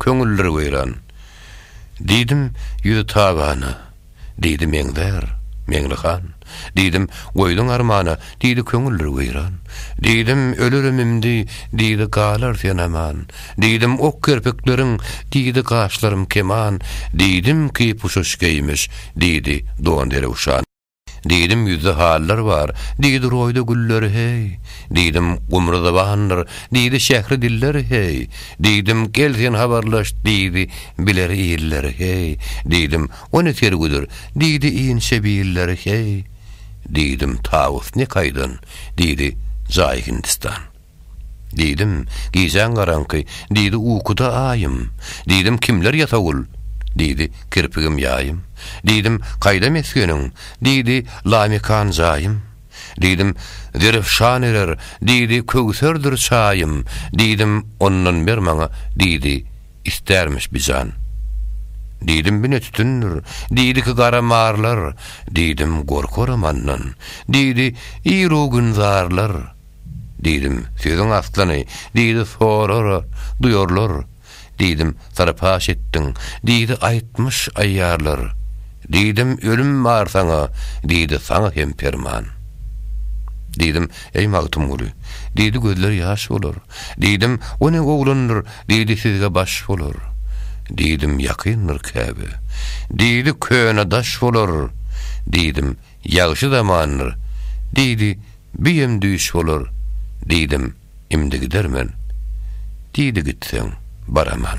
Köňülleri weýran. Diýdim, ýüzi tabana. Diýdi, meňzär, Meňli han. Diýdim, goýduň armana. Diýdi, köňülleri weýran. Diýdim, ölerim imdi. Diýdi, galar sen aman. Diýdim, ok kerpikleriň. Diýdi, gaşlarym keman. Diýdim, kepuşaş geýmiş. Diýdi, don derewşan. Diýdim, Ýüzde hallar bar, diýdi, Roýda güller, heý! Diýdim, Gumry zybandyr, diýdi, Şähri diller, heý! Diýdim, Gel sen habarlaş, diýdi, Biler iller, heý! Diýdim, O ne sergüdir, diýdi, Inçe biller, heý! Diýdim, Tawus ne kaýdan, diýdi, Jaý Hindistan. Diýdim, Gijäň garaňky, diýdi, Ukuda aýym. Diýdim, Kimler ýasawul? Diýdi, Kirpigim ýaýym. Diýdim, Kaýda mesgeniň? Diýdi, Lamekan jaýym. Diýdim, Zerefşan erer, diýdi, Köwserdir çaýym. Diýdim, Ondan ber maňa, diýdi, Istärmiş bijan. Diýdim, Bine tütündir, diýdi, Ki gara marlar. Diýdim, Gorkarym andan, diýdi, Ir-u gün zarlar. Diýdim, Sözüň aslyny, diýdi, sorara, duýarlar. Diýdim, Sary paş etdiň, diýdi, aýtmyş aýýarlar. Diýdim, Ölüm bar saňa, diýdi, saňa hem perman. Diýdim, Eý Magtymguly, diýdi, gözler ýaş bolar. Diýdim, O ne oglandyr, diýdi, sizge baş bolar. Diýdim, Ýakyndyr Käbe, diýdi, köne daş bolar. Diýdim, Ýagşy zamandyr, diýdi. Büýem düýş bolar diýdim, imdi gidermen. Diýdi gitseň, baraman.